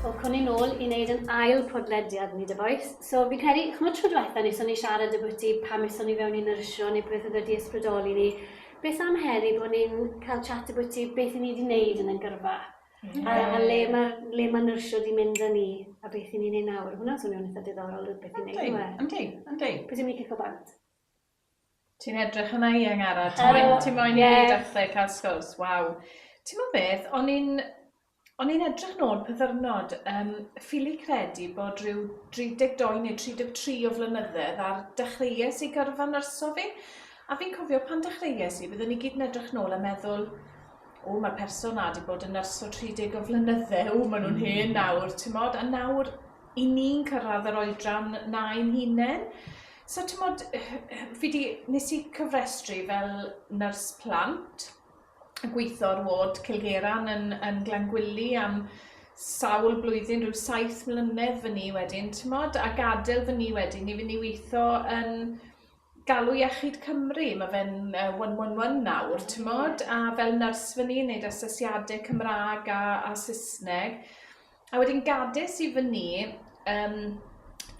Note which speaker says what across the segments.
Speaker 1: Welcome ni'n ôl i wneud yn ail podlediad ni, dy boes. So, fi'n credu, chymod tro diwetha ni, so ni siarad y bwyty pam eson ni fewn i'n nyrsio neu beth oedd wedi ysbrydoli ni. Beth am heddi bod ni'n cael chat y bwyty beth i ni wedi wneud yn y gyrfa? Mm. A, a le mae ma nyrsio wedi mynd â ni a beth i ni'n ei nawr. Hwna'n swnio'n eitha diddorol, beth i'n neud. Yndi, yndi. Pwy sy'n mynd
Speaker 2: i cico bant?
Speaker 3: Ti'n edrych yna i Angara, ti moyn, ti moyn i ni dathlu cael sgwrs, waw. Ti'n mo beth, o'n i'n o'n i'n edrych nôl pyddyrnod, um, ffili credu bod rhyw 32 neu 33 o flynyddoedd ar dechreuais i gyrfa nyrso fi, a fi'n cofio pan dechreuais i, byddwn ni gyd yn edrych nôl a meddwl, o, mae'r person na wedi bod yn nyrs o 30 o flynyddau, o, maen nhw'n hen nawr, ti'n modd, a nawr i ni'n cyrraedd yr oedran na i'n hunain. So t'mod fi 'di... Nes i cofrestru fel nyrs plant, yn gweitho ar ward Cilgeyran yn yn Glangwili am sawl blwyddyn, ryw saith mlynedd fyn' i wedyn t'mod, a gadel fyn' i wedyn i fyn' i weitho yn galw iechyd Cymru, ma' fe'n yy one one one nawr t'mod, a fel nyrs fyn' i neud asesiade Cymra'g a a Sysneg. A wedyn gades i fy ni um,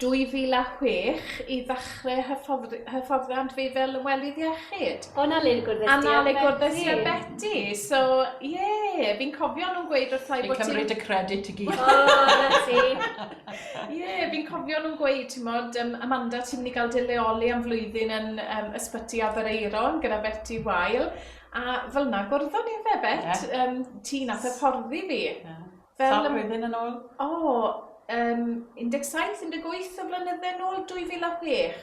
Speaker 3: 2006 i ddechrau hyfforddi, hyfforddiant fi fel welydd iechyd. O, na le gwrdd A
Speaker 1: na le gwrdd i a
Speaker 3: Betty. So, ie, yeah, fi'n cofio nhw'n gweud wrth i bod ti'n... cymryd y credit i
Speaker 2: gyd. O, na ti.
Speaker 1: Ie, yeah,
Speaker 3: fi'n cofio nhw'n gweud, ti'n modd, um, Amanda, ti'n mynd i gael dy leoli am flwyddyn yn um, ysbyty Abereiron gyda Betty Wael. A fel na, gwrddon ni fe, Bet, yeah. um, ti'n ath hyfforddi fi. Yeah. Fel Sawl blwyddyn
Speaker 2: yn ôl? O,
Speaker 3: um, 17, 18 o flynydde yn ôl, 2006.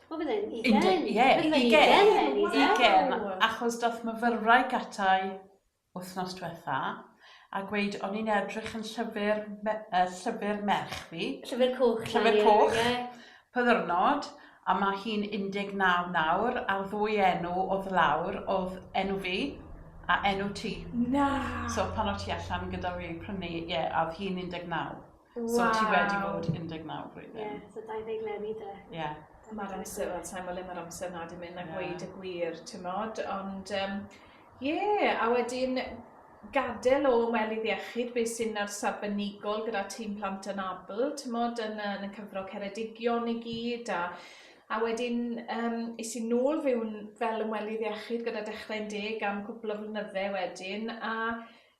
Speaker 3: O,
Speaker 1: bydd e'n ugen. Ie, ugen. Ugen,
Speaker 2: achos doth myfyrwraig gatai wythnos diwetha a gweud o'n i'n edrych yn llyfr, me, uh, llyfr merch fi. Llyfr
Speaker 1: coch. Llyfr
Speaker 2: coch. Pyddyrnod. A mae hi'n 19 nawr, a'r ddwy enw oedd lawr, oedd enw fi a enw ti. Na! So
Speaker 3: pan oedd ti
Speaker 2: allan gyda fi prynu, ie, yeah, a oedd hi'n 19. Wow. So ti wedi bod 19 flwyddyn. Ie, yeah, so 20 leni dy.
Speaker 1: Ie. Yeah. Mae'r amser,
Speaker 3: wel, sa'n gwybod le mae'r amser na di mynd a gweud y gwir, ti'n modd, ond um, Ie, a wedyn gadael o welydd iechyd, beth sy'n arbenigol gyda tîm plant anabl, timod, yn y, yn y cyfro Ceredigion i gyd, a, a wedyn um, is i nôl fyw'n fel ymwelydd iechyd gyda Dechrau'n Deg am cwpl o flynydde wedyn, a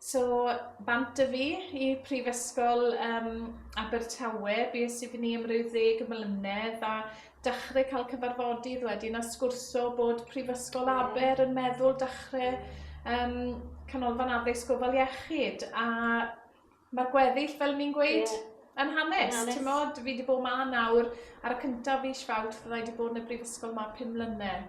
Speaker 3: So bant a fi i Prifysgol um, Abertawe, bys i fyny am ryw ddeg mlynedd a dechrau cael cyfarfodydd wedyn a sgwrso bod Prifysgol Aber yn meddwl dechrau um, canolfan addysg gofal iechyd a mae'r gweddill fel ni'n gweud yeah. yn hanes, hanes. ti'n modd, fi wedi bod ma nawr ar y cyntaf fi Fawrth, fydda i wedi bod yn y Brifysgol ma pum mlynedd.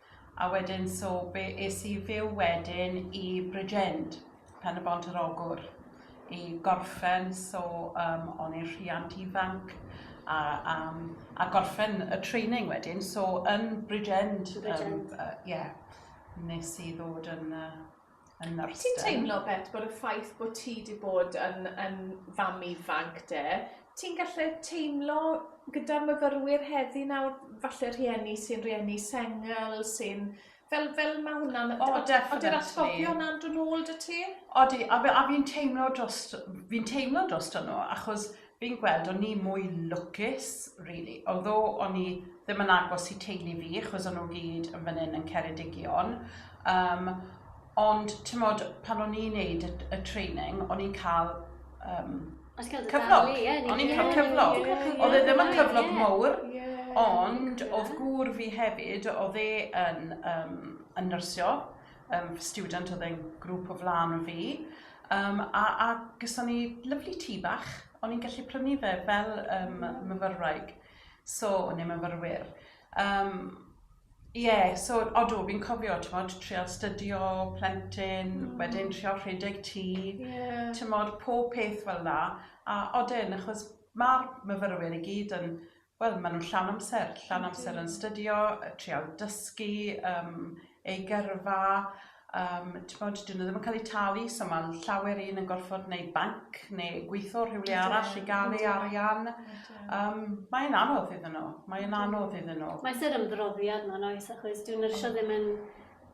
Speaker 2: A wedyn so be es i fyw wedyn i Bridgend, Pen y Bont yr Ogwr, i gorffen so um, o'n i'n rhiant ifanc a, um, a gorffen y training wedyn so yn Bridgend, Bridgend. Um, uh, yeah, nes i ddod yn uh, yn yr ysgol. Wyt ti'n teimlo Bet
Speaker 3: bod y ffaith bod ti 'di bod yn yn fam ifanc 'de ti'n gallu teimlo gyda'r myfyrwyr heddi nawr falle rhieni sy'n rieni sengl sy'n fel fel ma' hwnna'n o definitely ydi'r atgofion na'n dod nôl 'da ti? Odi a fi a fi'n
Speaker 2: teimlo drost fi'n teimlo drosto nhw achos Fi'n gweld o'n i mwy lwcus rili, although o'n i ddim yn agos i teulu fi achos o'n nhw gyd yn fan hyn yn Ceredigion um, ond timod pan o'n i'n neud y, y training o'n i'n cael um, cyflog, o'n i'n cael cyflog, oedd e ddim yn cyflog mowr, ond oedd gŵr fi hefyd, oedd e yn, um, yn nyrsio, um, student oedd e'n grŵp o flan o fi, um, a, a gyson ni lyflu tŷ bach, o'n i'n gallu prynu fe fel um, myfyrwraig, so, neu myfyrwyr. Um, Ie, yeah, so odw, fi'n cofio, ti'n modd, trial stydio, plentyn, mm. wedyn trial rhedeg tŷ, yeah. ti'n modd, pob peth fel la. A odyn, achos mae'r myfyrwyr i gyd yn Wel, maen nhw'n llawn amser, llawn amser yn stydio, trial dysgu um, ei gyrfa, um, bod, dyn nhw ddim yn cael eu talu, so mae llawer un yn gorfod neu banc neu gweithio rhywle arall i gael ei arian. Um, mae'n anodd iddyn nhw, mae'n anodd iddyn nhw. Mae
Speaker 1: sy'n ymdroddiad mae'n oes, achos dwi'n nyrsio ddim yn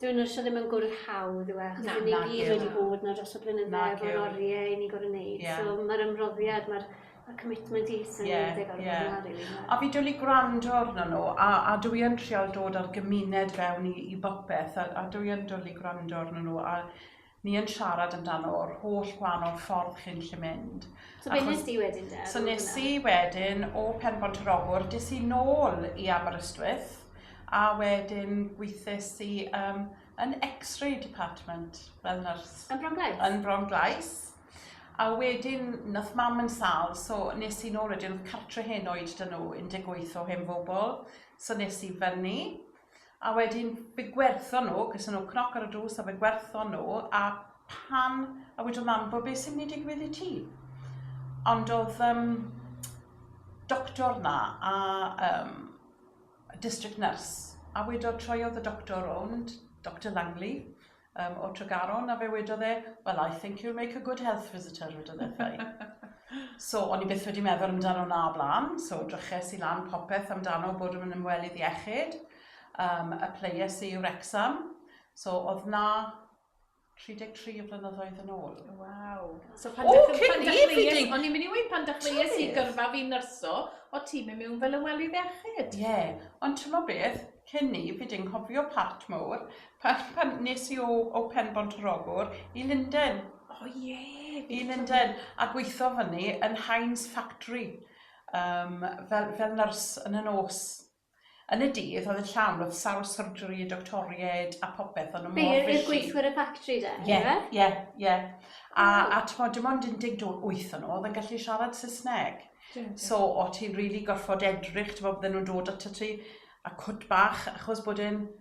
Speaker 1: Dwi nhw eisiau ddim yn gwrdd hawdd yw e? Achos Na, ni gyd wedi bod na dros y blynyddoedd o'r oriau i ni gorau wneud. Yeah. So mae'r ymroddiad, mae'r y commitment i sy'n yeah, yeah. gorau yeah. bod yna. Really. A fi dwl i gwrando
Speaker 2: arno nhw, a, a dwi yn trial dod ar gymuned fewn i, i bopeth, a, a dwi yn dwl i gwrando arno nhw, a Ni yn siarad amdano o'r holl gwahanol ffordd chi'n gallu mynd. So be nes di
Speaker 1: wedyn de? So nes i wedyn
Speaker 2: o Penbont yr Ogwr, des i nôl i Aberystwyth a wedyn gweithes i um, yn X-ray department fel nyrs. Yn Bron Glais? Yn Bron Glais. A wedyn, nath mam yn sal, so nes i nôl wedyn, oedd cartre hen oed dyn nhw, 18 o hen fobl, so nes i fyny, a wedyn fe gwerthon nhw, ges nhw cnoc ar y drws a fe gwerthon nhw, a pan, a wedodd mam, bo beth sy'n mynd i digwydd i ti? Ond oedd um, doctor na a um, district nurse, a wedodd troiodd y doctor rownd, Dr Langley, Yym, o Tregaron, a fe wedodd e, well I think you'll make a good health visitor, wedodd e wrtha i. So, o'n i byth wedi meddwl amdano 'na o blaen, so dryches i lan popeth amdano bod yn ymwelydd iechyd, um, y players i Wrexham, so oedd 'na 33 o flynyddoedd yn ôl. Waw. So
Speaker 3: pan oh, dych, pan dych chi, o'n i'n mynd i weid pan dych chi i gyrfa fi nyrso, o ti mynd mewn fel ymwelydd iechyd. Ie, yeah. ond ti'n
Speaker 2: beth, cyn ni, fi di'n cofio part mowr, Pan pan nes i o o Penbont yr Ogwr i Lunden. O ie! I Lunden a gweitho fyny yn Heinz factory yym fel fel nyrs yn y nos. Yn y dydd oedd e'n llawn oedd sawl surgery a doctoriaid a popeth o'n nhw mor busy. Be' o'dd gweithwyr y factory
Speaker 1: de? Ie ie ie
Speaker 2: a a t'mod dim ond un deg dw- wyth o nhw oedd yn gallu siarad Saesneg. So o' ti'n rili gorffod edrych t'mod bydden nhw'n dod atat ti a cwt bach achos bod e'n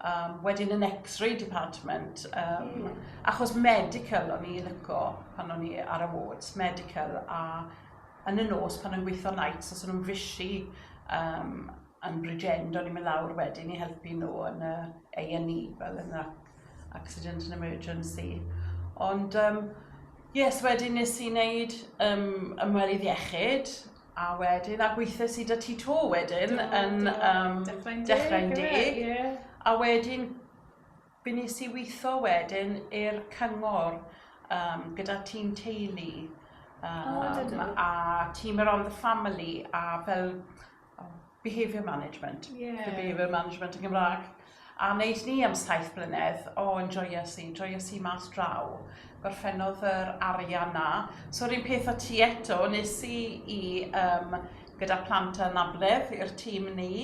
Speaker 2: Um, wedyn yn X-ray department, um, mm. achos medical o'n i'n lyco pan o'n i ar y wards, medical a yn y nos pan o'n gweithio nights, os o'n nhw'n fisi um, yn Bridgend, o'n i'n mynd lawr wedyn i helpu nhw yn y A&E, fel yn y accident and emergency. Ond, um, yes, wedyn nes i wneud um, ymwelydd iechyd, A wedyn, a gweithes i da ti to wedyn do, yn do. Um, dechrau'n deg. Dechrau'n deg. Yeah. A wedyn, byn nes i weithio wedyn i'r cyngor um, gyda tîm teulu. Um, oh, a tîm around the family a fel oh, behaviour management. Yeah. The behaviour management yn Gymraeg. A wneud ni am saith blynedd, o, oh, enjoyo si, enjoyo si mas draw. Gorffennodd yr arian na. So, rhywun peth o ti eto, nes i i um, gyda plant yn amledd i'r tîm ni,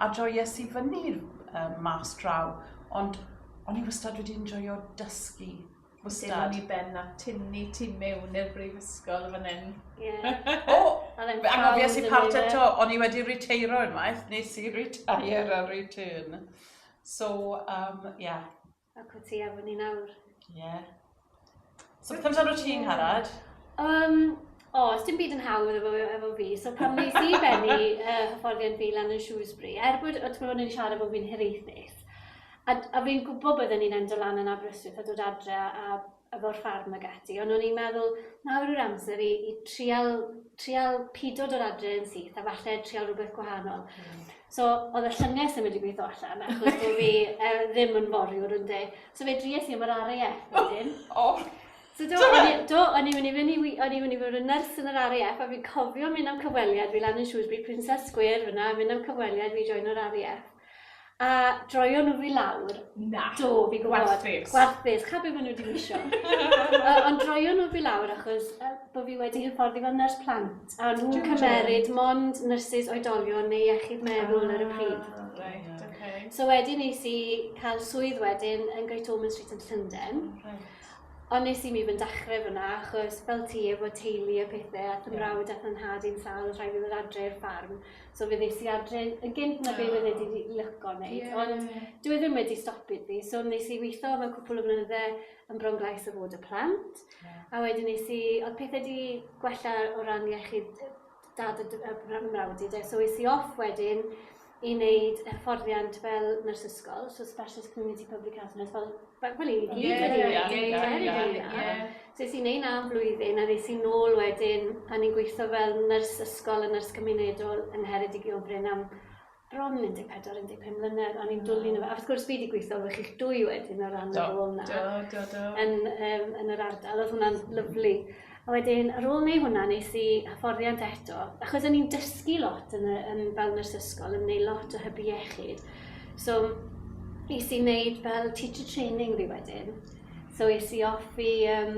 Speaker 2: a joio si fyny um, mas draw. Ond o'n i wastad wedi enjoyo dysgu Wastad. Dim ond i
Speaker 3: ben na tynnu tu mewn i'r brifysgol fan hyn. Ie. O! O'dd e'n Angofies
Speaker 2: i proud part o'no fe. eto, o'n i wedi riteiro unwaith, nes i retire ar return. So, um, ie.
Speaker 1: Ac wyt ti efo ni nawr. Ie.
Speaker 2: So beth amdano ti'n ngharad? Yym,
Speaker 1: O, oh, dim byd yn hawdd efo, efo fi. So pan nes i benni uh, hyfforddiant fi lan yn Shrewsbury, er bod, o ti'n ni'n siarad bod fi'n hiraethus, a, a fi'n gwybod byddwn ni'n endo lan yn Aberystwyth a dod adre a, a fo'r ffarm ag ati, ond o'n i'n meddwl, nawr yw'r amser i, i trial, trial pido dod adre yn syth a falle trial rhywbeth gwahanol. Mm. So, oedd y llynges yn mynd i gweithio allan, achos bod fi uh, ddim yn foriwr yn de. So fe dries i am yr ariau. Oh. So do, o'n i, do, o'n i wedi mynd i, o'n i wedi bod yn nyrs yn yr RAF, a fi'n cofio mynd am cyfweliad fi lan yn Shrewsbury Princess Square fyna, mynd am cyfweliad fi join yr RAF. A droio nhw fi lawr. Na. Do, fi
Speaker 3: gwybod.
Speaker 1: Gwarthus. Gwarthus, cha be maen nhw wedi misio. Ond droio nhw fi lawr achos uh, bod fi wedi hyfforddi fel nyrs plant. A nhw'n cymeryd mond nyrsys oedolion neu iechyd meddwl ar y ah, pryd. Right, okay.
Speaker 3: So wedyn nes i
Speaker 1: cael swydd wedyn yn Great Ormond Street yn Llynden. Right. Ond nes i mi ddim dechre fynna achos fel ti efo teulu a pethe ath 'yn mrawd ath 'yn nhad i'n sâl o'dd rhaid i ddod adre i'r ffarm so fe ddes i adre yn gynt na be' fydde di 'di lico neud ond dyw e ddim wedi stopi fi so nes i witho am y cwpwl o flynydde yn Bronglais a fod y plant. Ie. A wedyn nes i o'dd pethe 'di gwella o ran iechyd yy dad a dy- a bra- mrawd i 'de so es i off wedyn i neud hyfforddiant fel nyrs ysgol so specialist community public health nurse fel fel fel i ni gyd Ie, wedi neud ie, ie, wedi ie, neud ie. so es i neud na am flwyddyn a nes i nôl wedyn a ni'n gweitho fel nyrs ysgol a nyrs cymunedol yng Ngheredigion Brenham bron 14, 15 mlynedd, o'n i'n dwlu yno fo. A wrth gwrs, fi wedi gweithio efo chi'ch dwy wedyn o ran y rôl yna. Do, do, do. Yn, um, yn yr ardal, oedd hwnna'n lyflu. A wedyn, ar ôl neu hwnna, nes i hyfforddiant eto, achos o'n i'n dysgu lot yn, y, yn fel nyrs ysgol, yn gwneud lot o hybu iechyd. So, nes i wneud fel teacher training fi wedyn. So, es i off i um,